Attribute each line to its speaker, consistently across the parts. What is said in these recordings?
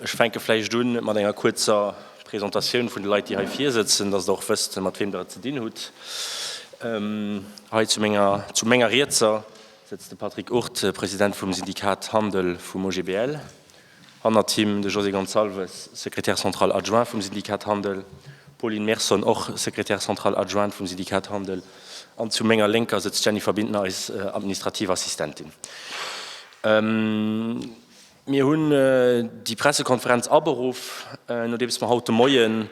Speaker 1: Ech fänke vläicht un mat enger kuerzer Presentatioun vun de Leit, déi hei vir sëtzen, datt Der och wësst, mat weem Der et ze dinn hutt. Hei zu menger, zu menger Rietser sëtzt de Patrick Urt, President vum Syndikat Handel vum OGBL, hannert him de José Gonçalves, Secrétaire central adjoint vum Syndikat Handel, d'Pauline Merson, och Secrétaire central adjointe vum Syndikat Handel, an zu menger Lénker sëtzt d'Jennifer Bintner, eis administrativ Assistentin. Mir hunn déi Pressekonferenz aberuff, nodeems mer haut de Moien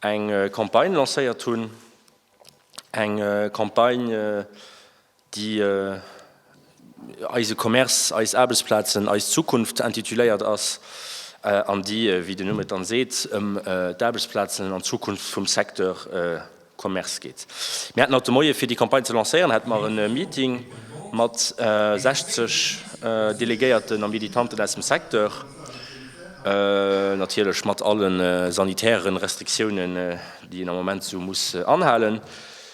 Speaker 1: eng Campagne lancéiert hunn, eng Campagne, déi Eise Commerce, eis Aarbechtsplazen, eis Zukunft intituléiert ass an déi, wéi den Numm et dann seet, ëm d'Aarbechtsplazen an d'Zukunft vum Secteur Commerce geet. Mir haten haut de Moie fir déi Campagne ze lancéieren, hate mer e Meeting mat 60 Delegéierten a Militanten aus dem Secteur, natierlech mat alle sanitäre Restriktiounen, déi een am Moment esou muss anhalen.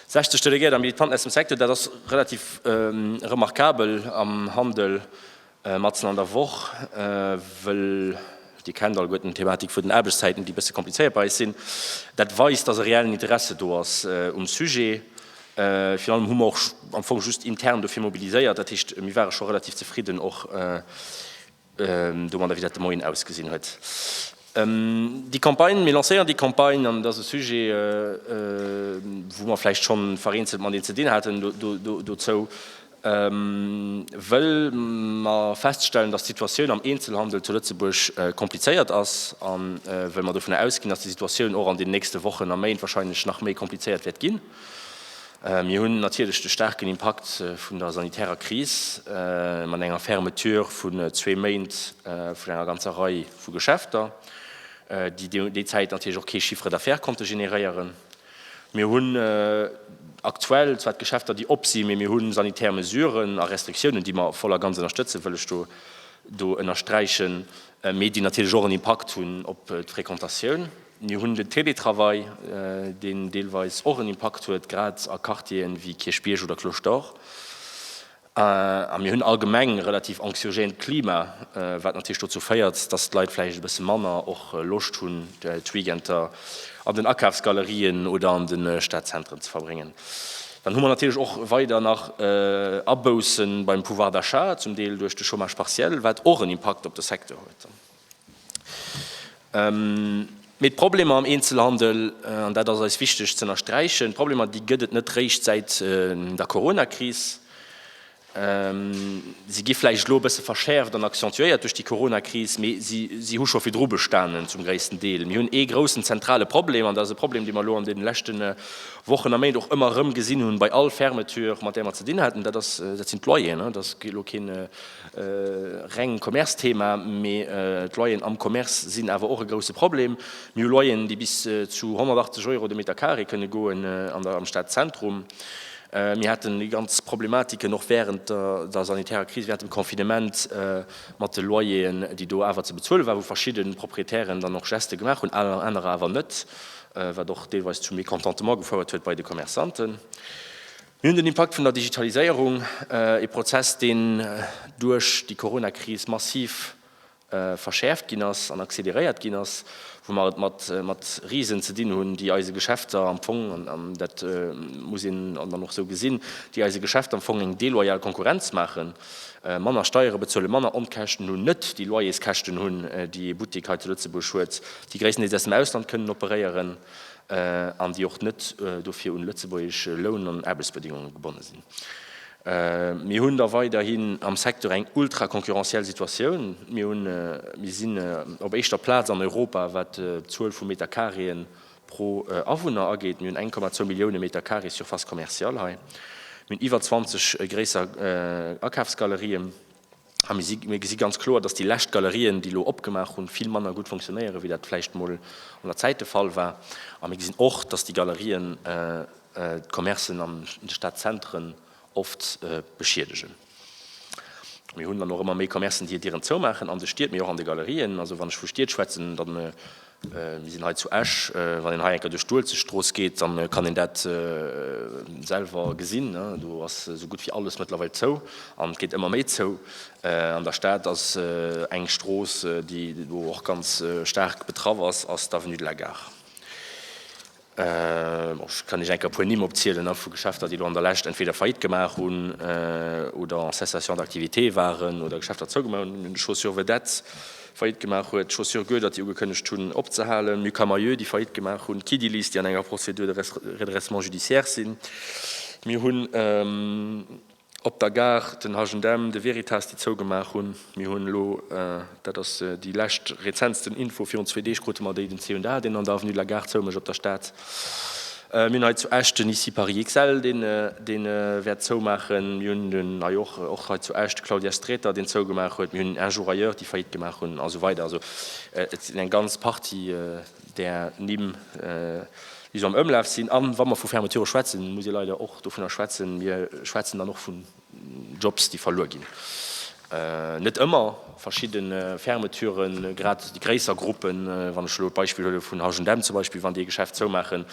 Speaker 1: 60 Delegéiert a Militanten aus dem Secteur, dat ass relativ remarkabel am Handel Matzen an der Woch wëll, Dir kennt alleguer den d'Thematik vun den Aarbechtszäiten, déi e bësse komplizéiert bei eis sinn. Dat weist, dass e reellen Interesse do ass um Sujet. Virun allem hu mer och am Fong just intern dofir mobiliséiert. Dat heescht, mir ware scho relativ zefridden och domadder, wéi dat de Moien ausgesinn huet. Déi Campagne, mir lancéieren déi Campagne an et ass e Sujet, wou mer vläicht schonn vereenzelt mat een ze dinn haten dozou. Wëll mer feststellen, dass d'Situatioun am Eenzelhandel zu Lëtzebuerg komplizéiert ass an wëll mer dovunner ausginn, dass déi Situatioun och an den nächste Wochen a Méint wahrscheinlech nach méi komplizéiert wäert ginn. Mir hunn natierlech de staarken Impakt vun der sanitärer Kris mat enger Fermeture vun zwee Méint vun enger ganzer Rei vu Geschäfter, déi déi Zäit natierlech och kee Chiffre d'affaires konnte generéieren. Mir hunn aktuell zwar d'Geschäfter, déi op sinn, mee mir hu sanitär Mesuren a Restriktiounen, déi mer voll a ganz ënnerstëtzen, wëll ech do ënnersträichen, mee déi natierlech och en Impakt hunn op d'Frequentatioun. Mir hunn den Télétravail, deen deelweis och en Impakt huet, grad a Quartieren ewéi Kierchbierg oder Cloche d'Or. A mir hunn allgemeng e relativ anxiogént Klima, wat natierlech dozou féiert, dass d'Leit vläicht e bësse manner och Loscht hunn, d'Weekender an den Akafsgalerien oder an de Stadzentren ze verbréngen. Dann hu mer natierlech och weider nach Abousse beim Pouvoir d'achat, zum Deel duerch de Chômage partiel, wat och en Impakt op de Secteur huet. Mee d'Problemer am Eenzelhandel, an dat ass eis wichteg z'ënnersträichen, d'Problemer déi gëtt et net réischt säit der Coronakris. Si gi vläicht elo e bësse verschäerft an accentuéiert duerch déi Coronakris, mee si hu scho virdru bestanen zum gréissten Deel. Mir hunn ee groussen zentrale Problem, an dat ass e Problem, dee mer elo an deene leschte Wochen a Méint och ëmmer erëm gesinn hunn, bei all Fermeture mat där mer ze dinn haten, dat sinn d'Loyeren. Et ass elo keen reng Commerce-Thema, mee d'Loyeren am Commerce sinn awer och e grousse Problem. Mir hu Loyeren, déi bis zu 180 Euro de Meter carré kënne goen am Stadzentrum. Mir haten déi ganz Problematiken och wärend der sanitärer Kris, wärend dem Confinement mat de Loyeren, déi do awer ze bezuele waren, wou verschidde Proprietären dann och Geste gemaach hunn, anerer awer net, wat och deelweis zu Mécontentement gefouert huet bei de Commerçanten. Mir hunn den Impakt vun der Digitaliséierung, ee Prozess, deen duerch déi Corona-Kris massiv verschäerft ginn ass an acceleréiert ginn ass, wou mer et mat Risen ze dinn hunn, déi eise Geschäfter am Fong, an dat muss een dann och esou gesinn, déi eise Geschäfter am Fong eng deloyal Konkurrenz maachen, manner Steiere bezuelen, manner Onkäschten hunn, net déi Loyerskäschten hunn, déi ee Buttek hei zu Lëtzebuerg huet, déi gréisstendeels aus dem Ausland kënnen operéieren. an déi och net dofir un lëtzebuergesch Loun an Aarbechtsbedéngunge gebonne sinn. Mir hunn da weiderhin am Secteur eng ultraconcurrentiel Situatioun. Mir sinn op éischter Plaz an Europa, wat d'Zuel vu Meterkareeën pro Awunner ageet. Mir hunn 1,2 Millioune Meterkaree Surface commerciale hei. Mir hunn iwwer 20 gréisser Akafsgalerien. A mir gesi ganz kloer, dass déi lescht Galerien, déi elo opgemaach hunn, vill manner gutt funktionéieren, wéi dat vläicht emol an der Zäit de Fall war. A mir gesinn och, dass déi Galerien d'Commercen an de Stadzentren oft beschiedegen. Mir hunn dann och ëmmer méi Commercen, déi hiert Dieren zoumaachen an de Stied, mee och an de Galerien. Also wann ech vu Stied schwätzen, dann Mir sinn hei zu Esch. Wann een hei enker duerch d'Uelzechtstrooss geet, dann kann een dat selwer gesinn. Do ass esou gutt wéi alles mëttlerweil zou an et geet ëmmer méi zou. An der Stad ass eng Strooss, déi do och ganz staark betraff ass, ass d'Avenue de la Gare. Ech kann Iech enker e puer Nimm opzielen vu Geschäfter, déi elo an der Lescht entweder Faillite gemaach hunn oder en cessation d'activité waren oder Geschäfter zougemaach hunn. Mir hunn d'Chaussures Vedette, déi Faillite gemaach huet, d'Chaussures Goedert, déi ugekënnegt hunn opzehalen, Mucamaïeu, déi Faillite gemaach hunn, Kiddilis, déi an enger Procédure de redressement judiciaire sinn. Mir hunn. Op der Gare, den H&M, de Veritas, déi zougemaach hunn. Mir hunn elo, dat ass déi lescht, rezentsten Info, virun zwee Deeg krute mer déi, den C&A, deen an der Avenue de la Gare zou mécht, op der Stad. Mir hunn hei zu Esch den Ici Paris XL, dee wäert zoumaachen. Mir hunn den, hei och, och hei zu Esch, de Claudias Sträter, deen zougemaach huet. Mir hunn Un Jour Ailleurs, déi Faillite gemaach hunn, a sou weider. Also et sinn eng ganz Partie. där Nimm, déi esou am Ëmlaf sinn. A wa mer vu Fermeturë schwätzen, muss ee leider och dovunner schwätzen, mir schwätzen dann och vun Jobs, déi verluer ginn. Net ëmmer. Verschidde Fermeturen, grad déi gréisser Gruppen, wann ech elo d'Beispill huele vun H&M zum Beispill, wann déi e Geschäft zoumaachen,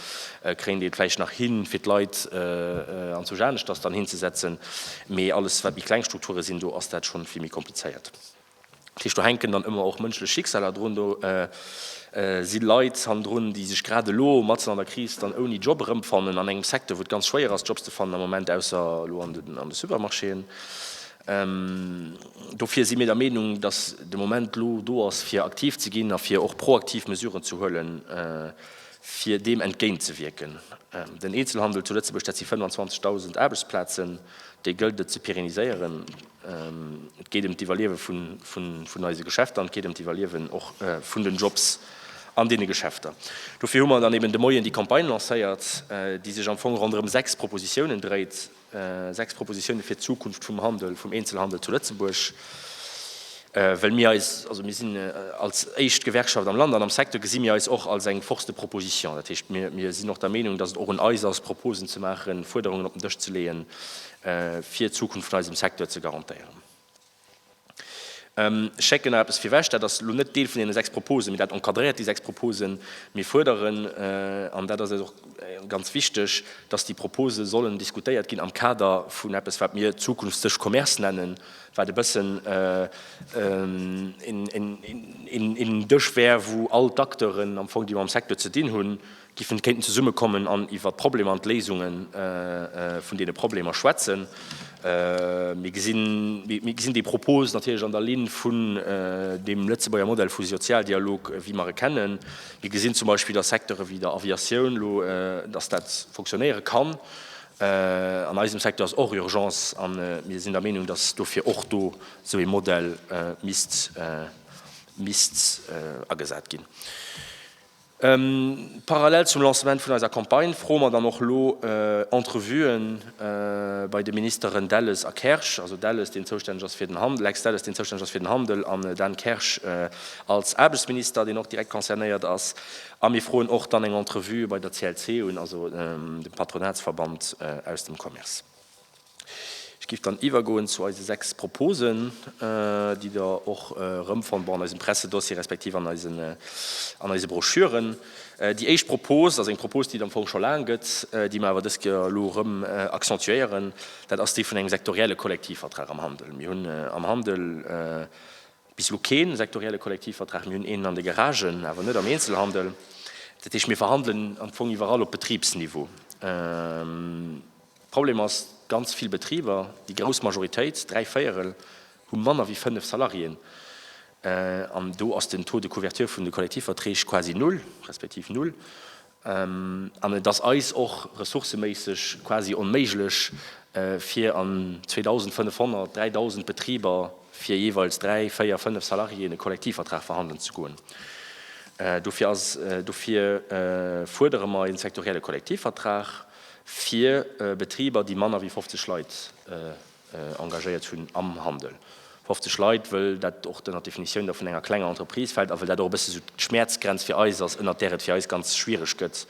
Speaker 1: kréien déi et vläicht nach hin, fir d'Leit anzwousch aneschters dann hinzesetzen. Mee alles, wat méi kleng Strukture sinn, do ass dat schonn vill méi komplizéiert. Dat heescht, do hänken dann ëmmer och mënschlech Schicksaler drun. Do si Leit hannendrun, déi sech grad elo, matzen an der Kris, dann ouni Job erëmfannen, an engem Secteur, wou et ganz schwéier ass, Jobs ze fannen am Moment, ausser elo an de Supermarchéen. Dofir si mir der Meenung, datt de Moment elo do ass, fir aktiv ze ginn a fir och proaktiv Mesuren ze huelen, fir deem entgéintzewierken. Den Eenzelhandel zu Lëtzebuerg, dat si 25.000 Aarbechtsplazen, déi gëllt et ze pérenniséieren. Et geet ëm d'Iwwerliewe vun eise Geschäfter an et geet ëm d'Iwwerliewen och vun den Jobs an deene Geschäfter. Dofir hu mer dann eben de Moien déi Campagne lancéiert, déi sech am Fong ronderëm sechs Propositiounen dréit, sechs Propositiounen fir d'Zukunft vum Handel, vum Eenzelhandel zu Lëtzebuerg. Well mir eis, also mir sinn als éischt Gewerkschaft am Land an am Secteur, gesi mir eis och als eng Force de proposition. Dat heescht, mir sinn och der Meenung, datt et och un eis ass, Proposen ze maachen, Fuerderungen op den Dësch ze leeën, fir d'Zukunft vun eisem Secteur ze garantéieren. Ech schécken nach eppes virwech, dat ass elo net Deel vun deene sechs Proposen, mee dat encadréiert déi sechs Proposen. Mir fuerderen, an dat ass eis och ganz wichteg, dass déi Propose sollen diskutéiert ginn am Kader vun eppes, wat mir Zukunftsdësch Commerce nennen, wat e bëssen een Dësch wär, wou all d'Acteuren am Fong, déi mam Secteur ze dinn hunn, giffen, kéinten zesummekommen an iwwert d'Problemer an d'Léisunge vun deene Problemer schwätzen. Mir gesinn, mir gesinn déi Propos natierlech an der Linn vun deem Lëtzebuerger Modell vu Sozialdialog, wéi mer e kennen. Mir gesinn zum Beispill a Secteure wéi der Aviatioun elo, dass dat funktionéiere kann. An eisem Secteur ass och Urgence a mir sinn der Meenung, dass dofir och do esou ee Modell misst, misst agesat ginn. Parallel zum Lancement vun eiser Campagne froe mer dann och elo Entrevue bei de Ministeren Delles a Kersch, also Delles, deen zoustänneg ass fir den Handel, Lex Delles, deen zoustänneg ass fir den Handel, an Dan Kersch als Aarbechtsminister, deen och direkt concernéiert ass. A mir froen och dann eng Entrevue bei der CLC un, also dem Patronatsverband aus dem Commerce. Ech giff dann iwwergoen zu eise sechs Proposen, déi der och erëmfonnt, bon, an eisem Pressedossier respektiv an eisen, an eise Broschüren. Déi éischt Propose ass eng Propose, déi et am Fong scho laang gëtt, déi mer awer dës Kéier elo erëm accentuéieren. Dat ass déi vun engem sektorielle Kollektivvertrag am Handel. Mir hunn am Handel bis elo kee sektorielle Kollektivvertrag. Mir hunn een an de Garagen, awer net am Eenzelhandel. Dat heescht, mir verhandelen am Fong iwwerall op Betribsniveau. Problem ass, ganz vill Betriber, déi grouss Majoritéit, dräi Véierel, hu manner wéi fënnef Salariéen. An do ass den Taux de couverture vun de Kollektivverträg quasi null, respektiv null. An et ass eis och ressourceméisseg quasi onméiglech, fir an 2.500, 3.000 Betriber fir jeeweils dräi, véier, fënnef Salariéen e Kollektivvertrag verhandelen ze goen. Dofir fuerdere mer e sektorielle Kollektivvertrag. fir Betriber, déi manner wéi 50 Leit engagéiert hunn am Handel. 50 Leit, wëll dat och ënnert d'Definitioun da vun enger klenger Entreprise fält a wëll dat och e bësse sou d'Schmäerzgrenz fir eis ass, ënnert där et fir eis ganz schwiereg gëtt,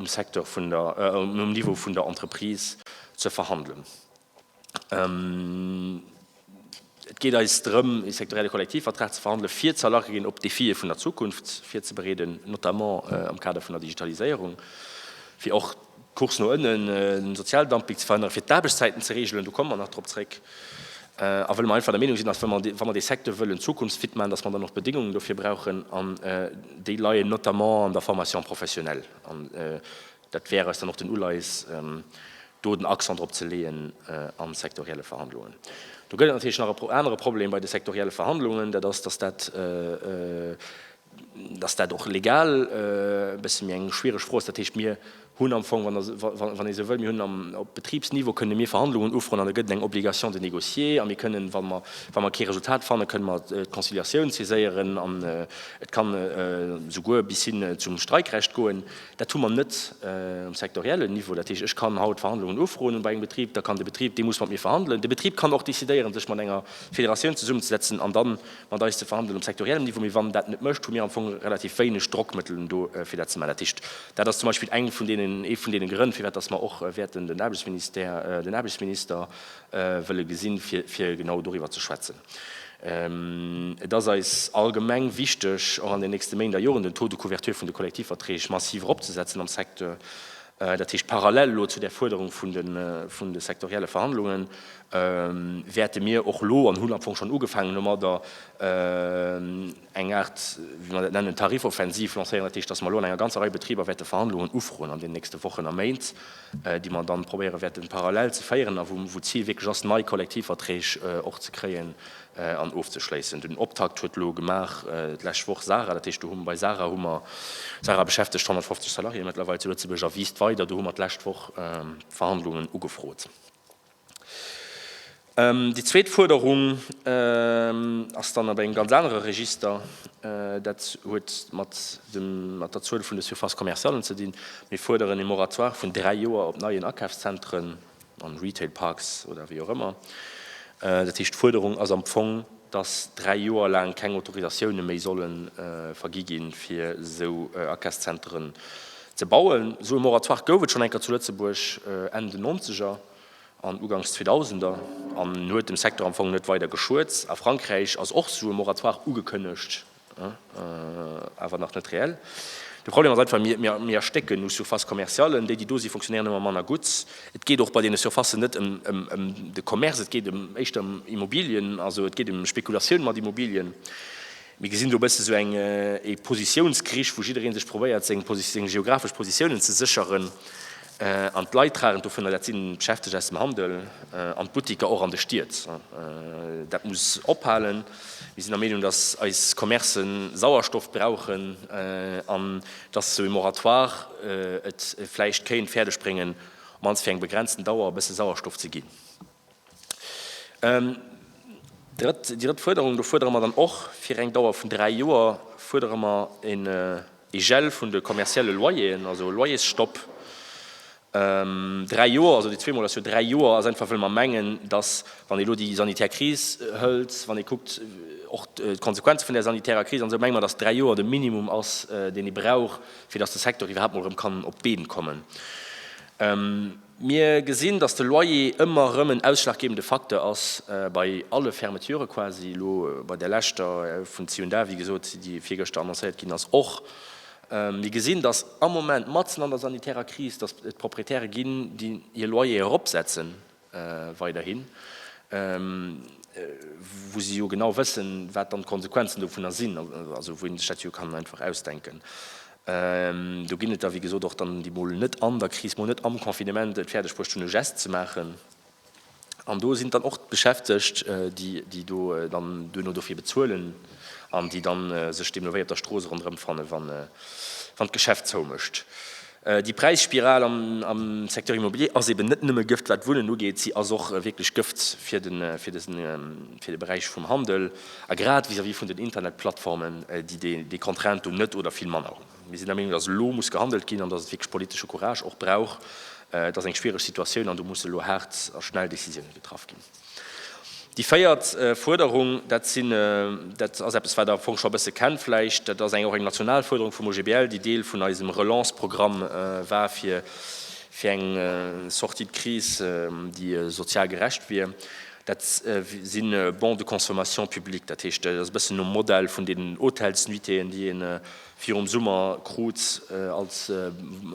Speaker 1: um Secteur vun der, um Niveau vun der Entreprise ze verhandelen. Et geet eis drëm, e sektorielle Kollektivvertrag ze verhandelen, fir ze erlache ginn, op d'Defie vun der Zukunft virzebereeden, notamment am Kader vun der Digitaliséierung, fir och d'Course no ënnen, de Sozialdumping ze verhënneren, fir d'Aarbechtszäiten ze regelen, do komme mer nach drop zréck, a wëlle mer einfach der Meenung sinn, dass, wa mer dee Secteur wëllen zukunftsfit maachen, dass mer dann och d'Bedéngungen dofir brauchen, an déi leien notamment an der Formation professionnelle. Dat wär eis dann och den Uleis, do den Accent drop ze leeën an sektorielle Verhandlungen. Do gëtt et natierlech nach e anere Problem bei de sektorielle Verhandlungen, dat ass, dass dat, dass dat och legal e bësse méi eng schwiereg Fro ass. Dat heescht, mir hunn am Fong, wann ee sou wëll, mir hunn am, op Betribsniveau kënne mir Verhandlungen ufroen an da gëtt et eng Obligation de négocier a mir kënnen, wa mer, wa mer kee Resultat fannen, kënne mer d'Conciliatioun saiséieren an et kann souguer bis hin zum Streikrecht goen. Dat hu mer net um sektoriellen Niveau. Dat heescht, ech kann haut Verhandlungen ufroen bei engem Betrib, da kann de Betrib, dee muss mat mir verhandelen. De Betrib kann och decidéieren, sech mat enger Federatioun zesummezesetzen an dann mat eis ze verhandelen um sektoriellen Niveau. Mee wann en dat net mécht, hu mir am Fong relativ wéineg Drockmëttelen do, fir dat ze maachen. Dat heescht, dat ass zum Beispill eng vun deenen, ee vun deene Grënn, firwat dass mer och wäerten den Aarbechtsministère, den Aarbechtsminister wëlle gesinn, fir, fir genau doriwwer ze schwätzen. Et ass eis allgemeng wichteg, och an den nächste Méint a Joren den Taux de couverture vun de Kollektivverträg massiv eropzesetzen am Secteur, dat heescht parallel elo zu där Fuerderung vun de sektorielle Verhandlungen, wäerte mir och elo, an hunn am Fong schonn ugefaangen domadder, eng Aart, wéi mer dat nennen, Tarifoffensiv lancéieren, dat heescht, datt mer elo an enger ganzer Rei Betriber wäerte Verhandlungen ufroen an den nächste Wochen a Méint, déi mer dann probéiere wäerten parallel ze féieren a wou d'Zil wierklech ass, nei Kollektivverträg och ze kréien an ofzeschléissen. Den Optakt huet elo gemaach d'lescht Woch Sara, dat heescht do hu mer bei Sara hu mer, Sara beschäftegt 150 Salariéeë mëttlerweil zu Lëtzebuerg a wiisst weider, do hu mer d'lescht Woch Verhandlungen ugefrot. Déi zweet Fuerderung ass dann op engem ganz anere Register. Dat huet mat der Zuel vun de Surfaces commercialen ze dinn. Mir fuerderen ee Moratoire vun dräi Joer op neien Akafszentren an Retail Parks oder wéi och ëmmer. Dat heescht, d'Fuerderung ass am Fong, dass dräi Joer laang keng Autorisatioune méi solle vergi ginn, fir esou Akafszenteren Ze bauen. Esou e Moratoire gouf et schonn enker zu Lëtzebuerg, Enn den Nonzeger an Uganks Zweedausender, an huet dem Secteur am Fong net weider geschuet. A Frankräich ass och esou e Moratoire ugekënnegt, awer nach net reell. De Problem ass einfach, mir erstécken u Surfaces commerciales. Déi, déi do si fonctionnéieren ëmmer manner gutt. Et geet och bei deene Surfacen net ëm de Commerce, et geet éischter ëm Immobilien, also et geet ëm Spekulatioun mat Immobilien. Mir gesinn do e bëssen esou eng ee Positiounskrich, wou jidderee sech probéiert, seng Posi-, seng geographesch Positiounen ze sécheren. An d'Leit tragen dovunner, dat sinn d'Beschäftegt aus dem Handel an d'Buttiker, och an de Stied. Dat muss ophalen. Mir sinn der Meenung, dass eis Commercë Sauerstoff brauchen an dass esou ee Moratoire et vläicht kéint fäerdegbréngen, op d'mannst fir eng begrenzten Dauer, e bësse Sauerstoff ze ginn. Déi drëtt Fuerderung, do fuerdere mer dann och fir eng Dauer vun dräi Joer, fuerdere mer en Gel vun de kommerzielle Loyeren, also e Loyersstopp dräi Joer. Also déi zwee Mol ass jo dräi Joer, ass einfach well mer mengen, datt, wann ee elo déi sanitär Kris hëlt, wann ee kuckt och d'Konsequenze vun där sanitärer Kris an esou, menge mer, datt dräi Joer de Minimum ass, deen ee brauch, fir datt de Secteur iwwerhaapt mol erëm kann op d'Been kommen. Mir gesinn, dass de Loyer ëmmer erëm en ausschlaggebende Facteur ass bei alle Fermeture quasi. Elo bei där leschter vun C&A, wéi gesot, déi virgëschter annoncéiert ginn ass, och. Mir gesinn, dass am Moment, matzen an der sanitärer Kris, dass et Proprietäre ginn, déi hir Loyere eropsetze weiderhin, wou se jo genau wëssen, wat dann d'Konsequenzen dovunner sinn, also wou ee sech dat jo kann einfach ausdenken. Do ginn et der, wéi gesot, och dann, déi mol net an der Kris, mol net am Confinement et fäerdeg bruecht hunn, e Gest ze maachen. An do sinn et dann och d'Beschäftegt, déi do dann duerno dofir bezuelen an déi da sech deemno wéi op der Strooss ronderëmfannen, wann d'Geschäft zoumécht. Déi Präisspiral am Secteur immobilier ass eben net nëmme Gëft, wat d'Wunnen ugeet. Si ass och wierklech Gëft fir de Beräich vum Handel. A grad vis-à-vis vun den Internetplattformen, déi déi Contrainte do net oder vill manner hunn. Mir sinn der Meenung, datt elo muss gehandelt ginn an datt et wierklech politesche Courage och brauch. Et ass eng schwiereg Situatioun an do musse elo haart a schnell Décisiounen getraff ginn. Déi véiert Fuerderung, dat sinn, dat ass eppes, wat Der am Fong scho e bësse kennt vläicht, dat ass eng, och eng national Fuerderung vum OGBL, déi Deel vun eisem Relance-Programm war, fir, fir eng Sortie de crise, déi sozial gerecht wier. Dat si Bons de consommation publics, dat heescht, dat ass e bëssen nom Modell vun deenen Hotelsnuitéeën, déi ee virum Summer krut als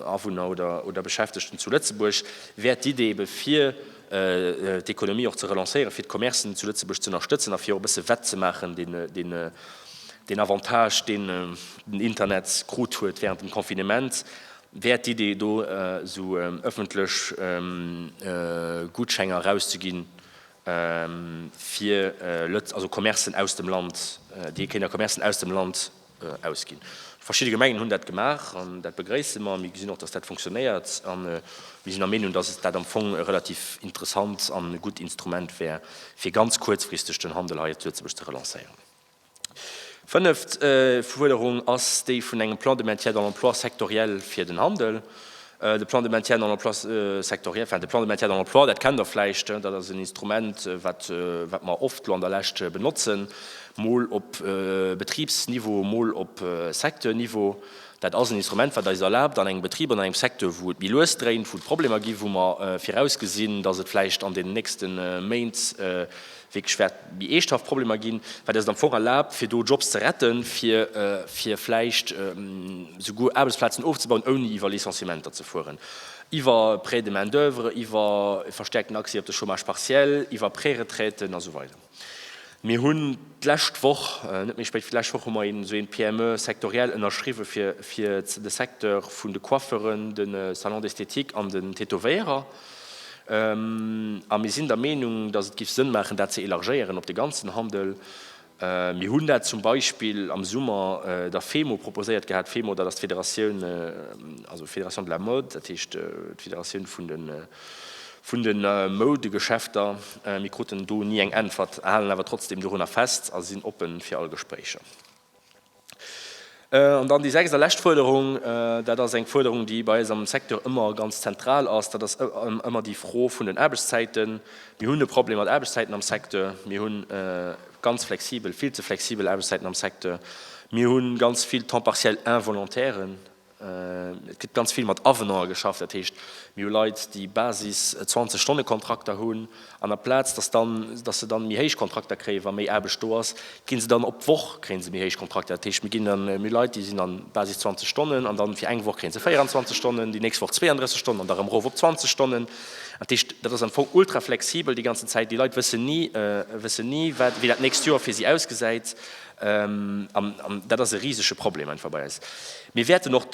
Speaker 1: Awunner oder Beschäftegten zu Lëtzebuerg, wär d'Idee ebe fir d'Ekonomie och ze relancéieren, fir d'Commercen zu Lëtzebuerg ze ënnerstëtzen a fir och e bësse wett ze maachen deen Avantage, deen den Internet krut huet wärend dem Confinement. Wäert d'Idee do esou ëffentlech Gutschenger erauszeginn fir Lëtz, also Commercen aus dem Land, déi ee kéint a Commercen aus dem Land ausginn. Verschidde Gemengen hunn dat gemaach an dat begréisse mer. Mir gesinn och, datt dat funktionéiert a mir sinn der Meenung, datt dat am Fong e relativ interessant an gutt Instrument wär fir ganz kuerzfristeg den Handel hei zu Lëtzebuerg ze relancéieren. Fënneft Fuerderung ass déi vun engem Plan de maintien dans l'emploi sectoriel fir den Handel. De Plan de maintien dans l'emploi sectoriel, enfin de Plan de maintien dans l'emploi, dat kennt Der vläicht, dat ass en Instrument, wat wat mer oft elo an der Lescht benotzen, mol op Betribsniveau, mol op Secteurniveau. Dat ass en Instrument, wat eis erlaabt, an engem Betrib, an engem Secteur, wou et méi lues dréint, wou et Problemer ginn, wou mer virausgesinn, dass et vläicht an deenen nächste Méint wierklech wäert méi eeschthaft Problemer ginn, wat eis et am Fong erlaabt, fir do Jobs ze retten, fir fir vläicht souguer Aarbechtsplazen ofzebauen, ouni iwwer Licenciementer ze fueren, iwwer Prêt de main d'oeuvre, iwwer e verstäerkten Accès op de Chômage partiel, iwwer Préretraiten a sou weider. Mir hunn d'lescht Woch, net méi spéit wéi d'lescht Woch, hu mer een esou een PME sectoriel ënnerschriwwen, fir fir de Secteur vun de Coiffeuren, de Salons d'esthétique an den Tätowéierer, A mir sinn der Meenung, dass et géif Sënn maachen, dat ze élargéieren op de ganzen Handel. Mir hunn dat zum Beispill am Summer der FEMO proposéiert gehat. D'FEMO, dat ass d'Federatioun, also Fédération de la mode, dat heescht d'Federatioun vun de vun de Moudegeschäfter. Mir kruten do ni eng Äntwert, halen awer trotzdeem dorunner fest a sinn oppe fir all Gespréicher. An dann déi sechst a lescht Fuerderung, dat ass eng Fuerderung, déi bei eis am Secteur ëmmer ganz zentral ass, dat ass ëmmer déi Fro vun den Aarbechtszäiten. Mir hunn e Problem mat Aarbechtszäiten am Secteur. Mir hu ganz flexibel, vill ze flexibel Aarbechtszäiten am Secteur. Mir hu ganz vill Temps partiel-involontären, Et gëtt ganz vill mat Avenanten geschafft, dat heescht, mir hu Leit, déi Basis 20 Stonne Kontrakter hunn an aplaz dass dann, dass se dann méi héich Kontrakter kréien, wa méi Aarbecht do ass, kri se dann op d'Woch kréie se méi héich Kontrakter. Dat heescht, mir ginn dann, mir hu Leit, déi sinn an Basis 20 Stonnen an dann fir eng Woch kréie se 24 Stonnen, déi nächst Woch 32 Stonnen an da rëm erof op 20 Stonnen. Dat heescht, dat ass am Fong ultra flexibel déi ganzen Zäit. Déi Leit wëssen ni, wëssen ni wat, wéi dat nächst Joer fir si ausgesäit. An dat ass e risege Problem einfach bei eis. Mir wäerten och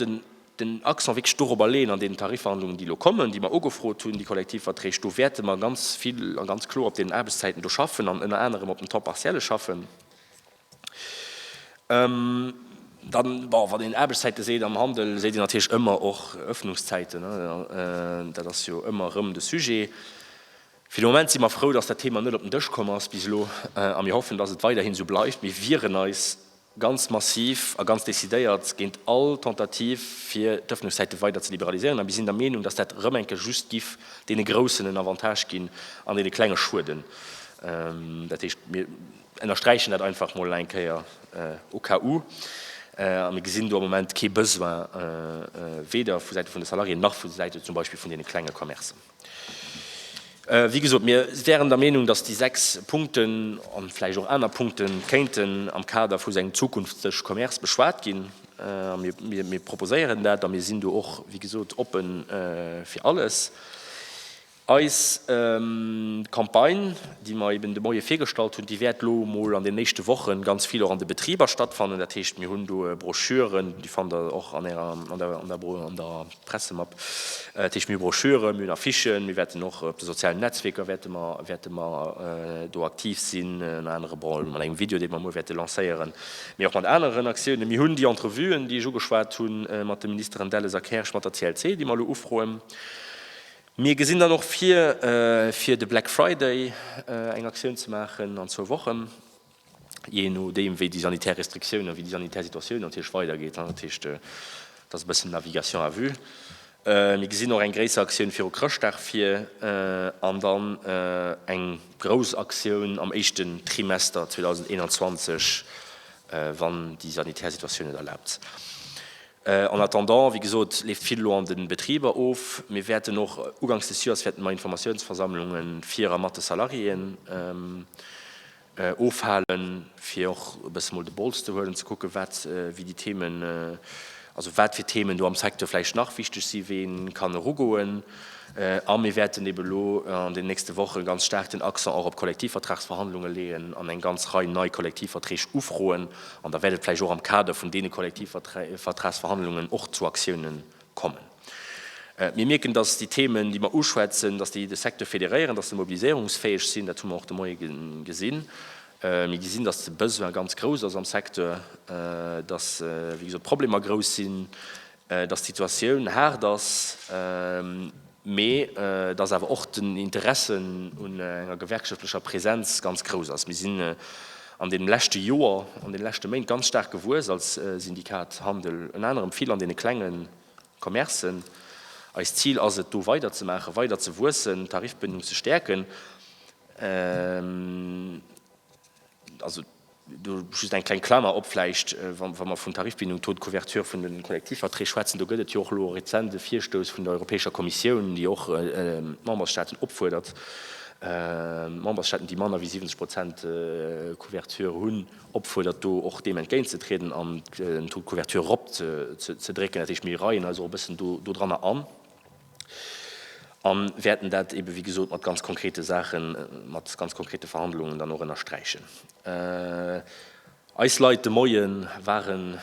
Speaker 1: den Accent wierklech dorobber leeën an deenen Tarifverhandlungen, déi elo kommen, déi mer ugefrot hunn, déi Kollektivverträg, do wäerte mer ganz vill a ganz kloer op deenen Aarbechtszäiten do schaffen an ënner anerem op dem Temps partielle schaffen. Dann, bon, wann een Aarbechtszäite seet am Handel, seet een natierlech ëmmer och Öffnungszäiten. Dat ass jo ëmmer erëm de Sujet. Fir de Moment si mer frou, dass dat Thema net op den Dësch komm ass bis elo, a mir hoffen, dass et weiderhin esou bleift. Mir wieren eis ganz massiv a ganz decidéiert géint all Tentative, fir d'Ëffnungszäite weider ze liberalisieren. A mir sinn der Meenung, dass dat erëm eng Kéier just giff deene Groussen en Avantage ginn an deene Klenge schueden. Dat heescht, mir ënnersträichen dat einfach emol eng Kéier au cas où. A mir gesinn do am Moment kee Besoin, weder vu Säite vun de Salariéen nach vu Säite zum Beispill vun deene klenge Commercen. Wéi gesot, mir wären der Meenung, dass déi sechs Punkten a vläicht och aner Punkte kéinten am Kader vu sengem zukünftege Commerce beschwat ginn. Mir proposéieren dat a mir sinn do och, wéi gesot, oppe fir alles. Eis Campagne, déi mer eben de Moie virgestallt hunn, déi wäert elo emol an deenen éischte Woche ganz vill och an de Betriber stattfannen. Dat heescht, mir hunn do Broschüren, déi fannt Der och an der Pressemapp, dat heescht mir Broschüren, mir hunn Affichen, mir wäerten och op de sozialen Netzwierker wäerte mer wäerte mer do aktiv sinn, ënner anerem bon mat engem Video, dee mer muer wäerte lancéieren, mee och mat aneren Aktiounen. Mir hunn déi Entrevuen, déi ech ugeschwat hunn, mat de Ministeren Delles a Kersch, mat der CLC, déi mer elo ufroen. Mir gesinn dann och vir, fir de Black Friday eng Aktioun ze maachen an zwou Wochen. jee no deem wéi déi sanitär Restriktiounen, wéi déi sanitär Situatioun natierlech weidergeet, dat heescht, et ass e bëssen Navigation à vue. Mir gesinn och eng gréisser Aktioun viru Chrëschtdag vir an dann eng grouss Aktioun am éischten Trimester 2021, wann déi sanitär Situatioun et erlaabt. En attendant, wéi gesot, leeft vill elo an de Betriber of. Mir wäerten och ugangs des Joers wäerten mer Informatiounsversammlunge vir a mat de Salariéen Ofhalen, fir och e bësse mol de Bols ze huelen, ze kucken, wat wéi déi Themen, also wat fir Themen do am Secteur vläicht nach wichteg sinn, wéi ee kann erugoen. A mir wäerten eeben elo an deenen nächste Woche ganz staark den Accent och op Kollektivvertragsverhandlunge leeën an eng ganz Rei nei Kollektivverträg ufroen. An da wäert et vläicht och am Kader vun deene Kollektivvertragsverhandlungen och zu Aktiounen kommen. Mir mierken, dass déi Themen, déi mer uschwätzen, dass déi de Secteur fédéréieren, dass se mobiliséierungsfäeg sinn. Dat hu mer och de Moie gesinn. Mir gesinn, dass de Besoin ganz grouss ass am Secteur, dass, wéi gesot, d'Problemer grouss sinn, dass d'Situatioun haart ass. mee dass awer och den Interesse un enger gewerkschaftlecher Präsenz ganz grouss ass. Mir sinn an deem leschte Joer, an deene leschte Méint ganz staark gewuess als Syndikat Handel, ënner anerem vill an deene klenge Commercen. Eist Zil ass et, do weiderzemaachen, weider ze wuessen, d'Tarifbëndung ze stäerken. Do just eng kleng Klamer op, vläicht, wa mer vun Tarifbindung, Taux de couverture vun de Kollektivverträg schwätzen, do gëtt et jo och elo e rezente Virstouss vun der Europäescher Kommissioun, déi och d'Membersstaaten opfuerdert, d'Membersstaaten, déi manner wéi 70 Prozent Couverture hunn, opfuerdert, do och deem entgéintzetrieden an den Taux de couverture eropzedrécken. Dat heescht, mir reien eis och e bëssen dodranner an. A wäerten dat eebe wéi gesot mat ganz konkrete Saachen, mat ganz konkrete Verhandlungen dann och ënnersträichen. Eis Leit de Moie ware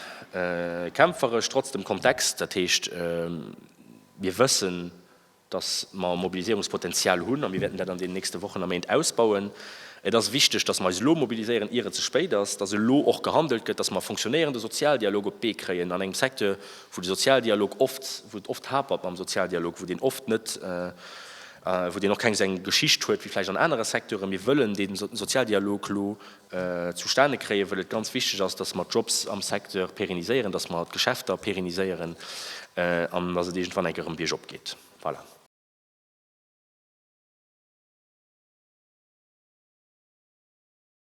Speaker 1: kämpferesch, trotz dem Kontext. Dat heescht, mir wëssen, datt mer Mobiliséierungspotenzial hunn a mir wäerten dat an deenen nächste Wochen a Méint ausbauen. Et ass wichteg, datt mer eis elo mobiliséieren, ier et ze spéit ass, datt elo och gehandelt gëtt, datt mer e funktionéierende Sozialdialog op d'Bee kréien an engem Secteur, wou de Sozialdialog oft, wou et oft hapert mam Sozialdialog, wou deen oft net, wou deen och keng esou eng Geschicht huet wéi vläicht an anere Secteuren. Mir wëllen dee Sozialdialog elo zustane kréien, wëll et ganz wichteg ass, dass mer d'Jobs am Secteur pérenniséieren, dass mer d'Geschäfter pérenniséieren an dass et iergendwann enk erëm biergop geet. Voilà.